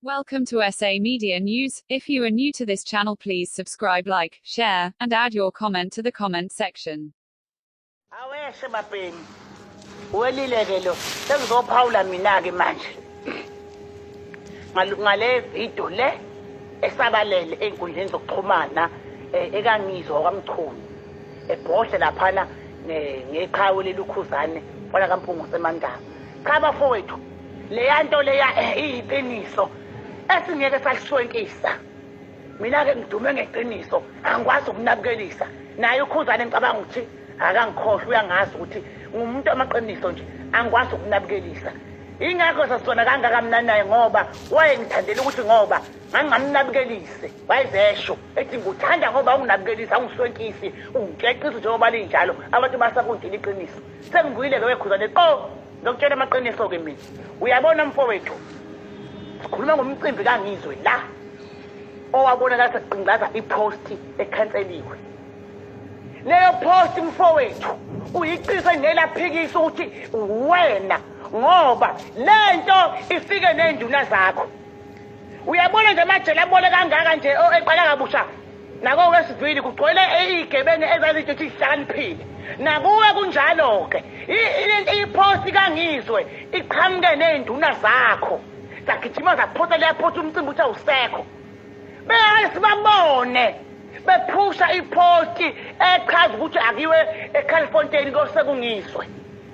Welcome to SA Media News. If you are new to this channel, please subscribe, like, share, and add your comment to the comment section. Aweshe bapeni. Welile ke lo. Sengizophawula mina ke manje. Ngale video le esabalele enkundleni zokuxhumana eh, ekangizwa kwamchunu. Ebhodle laphana ngeqhawe lelukhuzane kwala kampungu semandaba. Cha bafowethu leya nto leya eh, iyiqiniso esingeke saliswenkisa mina-ke ngidume ngeqiniso angikwazi ukunabukelisa naye ukhuzane ngicabanga ukuthi akangikhohlwa uyangazi ukuthi ngumuntu amaqiniso nje angikwazi ukunabukelisa ingakho sasizona kangaka mna naye ngoba wayengithandela ukuthi ngoba ngangingamnabukelisi wayezesho ethi nguthanda ngoba unginabukelisi awungiswenkisi ungikexisi njengoba linjalo abantu basakunjela iqiniso Sengivuyile-ke wekhuzane qo ngokutshela amaqiniso-ke mina uyabona mfowethu sikhuluma ngomcimbi kangizwe la owabonakala saqingaza iposti ekhanseliwe leyo posti mfowethu uyiqise nelaphikisa ukuthi wena ngoba le nto ifike ney'nduna zakho uyabona nje amajele abole kangaka nje eqala kabusha Nako wesivili kugcwele izigebengu ezazithi sihlakaniphile. Nakuwe kunjalo-ke. I-post kangizwe iqhamuke nezinduna zakho. Zagijima zaphosa leyaphosa umcimbi ukuthi awusekho. Beyake sibabone bephusha ipost echaza ukuthi akiwe eCalifontein kosekungizwe.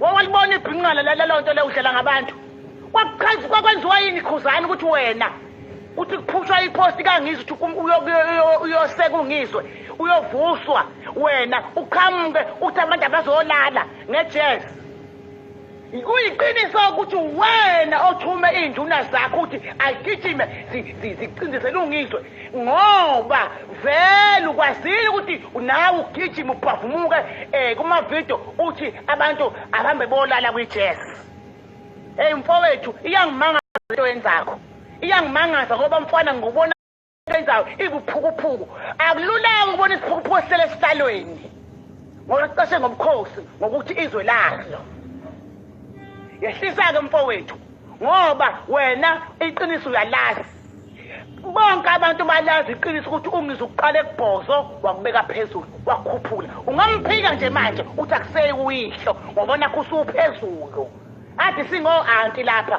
wawalibona ibhinqana lelo nto leyo udlela ngabantu kwakuchaza kwakwenziwa yini khuzani ukuthi wena kuthi kuphushwa iposti kangizi ukuthi uyoseka ungizwe uyovuswa wena uqhamuke ukuthi abantu abazolala ngejezi Kuyiqiniso ukuthi wena othume iy'nduna zakho ukuthi ayigijime zicindezele ungizwe ngoba vele ukwazile ukuthi nawe ugijima ubhavumuke um eh, kumavidiyo uthi abantu abahambe bolala kwi-jazz eyi mfowethu iyangimangaza into yenzakho iyangimangaza ngoba mfana ngikubona eyenzayo ibuphukuphuku akululanga ukubona isiphukuphuku esihlele esihlalweni ngoba sicashe ngobukhosi ngokuthi izwe lazo yehlisa-ke mfowethu ngoba wena iqiniso uyalazi bonke abantu balazi iqiniso ukuthi ungize ukuqala ekubhozo wakubeka phezulu wakukhuphula ungamphika nje manje uthi akuseyi uyihlo ngoba nakho usuphezulu ade singo-anti lapha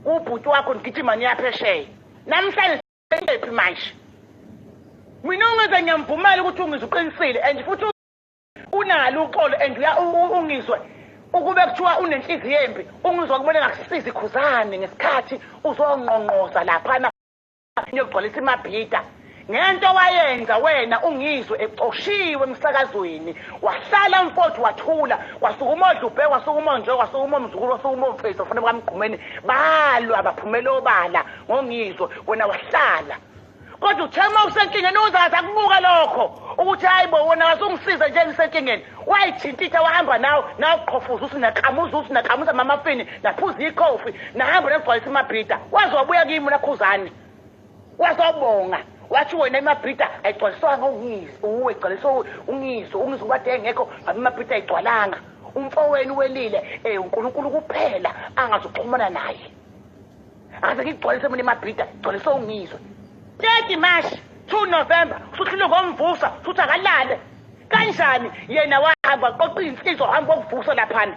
ubhuti wakho nigijima niyaphesheya namhlanje sekephi manje mina ungizwe ngiyamvumela ukuthi ungizwe uqinisile and futhi unalo uxolo and ungizwe ukube kuthiwa unenhliziyo embi ungizwa kumele ngakusiza ikhuzane ngesikhathi uzongqongqoza laphana niyogcwalisa imabhida Ngento wayenza wena ungizwe ecoshiwe emsakazweni wahlala mfowethu wathula kwasukuma odlubhe kwasukuma nje kwasukuma omzukulu kwasukuma omface kufanele bamgqumeni balwa baphumela obala ngongizwe wena wahlala kodwa uthe uma usenkingeni uzazi akubuka lokho ukuthi hayi bo wona wasungisiza nje ngisenkingeni wayithintitha wahamba nawe nawe uqhofuza uthi nakamuza uthi nakamuza mamafini naphuza ikhofi nahamba negcwalisa imabhida waze wabuya kimi nakhuzane Wazobonga wathi wena imabrita ayigcwaliswanga ungisi uwe igcwaliswe ungisi ungisi wathi engekho ngabe imabrita ayigcwalanga umfowenu welile um unkulunkulu kuphela angazuxhumana naye aze ngigcwalise mina imabrita igcwaliswe ungizwe thirty march two november usuhlulwe ngomvusa futhi akalale kanjani yena wahamba qoqa iy'nsizwa hamba kokuvusa laphana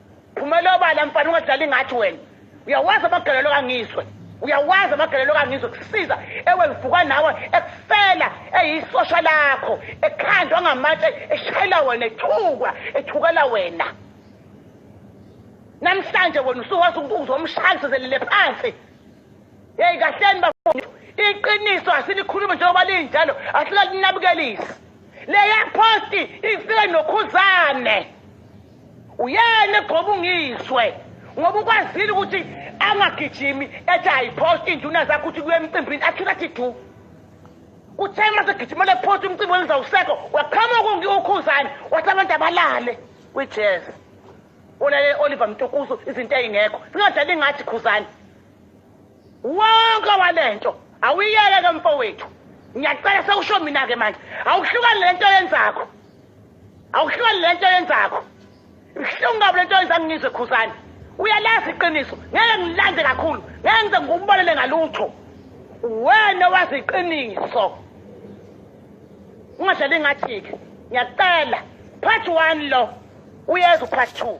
Phumela obala mfana ungadlali ngathi wena. Uyawazi amagalelo kangizwe. Uyawazi amagalelo kangizwe kusiza ewe ngivuka nawe ekufela eyisosha lakho ekhandwa ngamatshe eshayela wena ethukwa ethukela wena. Namhlanje wena usuwazi ukuthi uzomshaya sizelele phansi. Hey kahleni bafowethu iqiniso asilikhulumi njengoba linjalo asilalinebukelisi. Leya post ifike nokhuzane. uyena egqoba ungizwe ngoba ukwazile ukuthi angagijimi ethi ayiphoste iy'nduna zakho ukuthi kuye emcimbini athula athi du kuthe uma segijimela ephosta umcimbi wenza usekho waqhamuka ungiwukhuzane wathi abantu abalale kwi-jazz ulale oliver mtukusu izinto ey'ngekho singadlali ngathi khuzane wonke wale nto awuyeke ke mfowethu ngiyacela sewusho mina-ke manje awuhlukane le nto yenzakho awuhlali lento yenzakho ibuhlungu kabi lento yenza ngizwe khuzane uyalazi iqiniso ngeke ngilande kakhulu ngeke ngize ngikubonele ngalutho wena wazi iqiniso ungadlali ngathi-ke ngiyacela part one lo uyeza upart two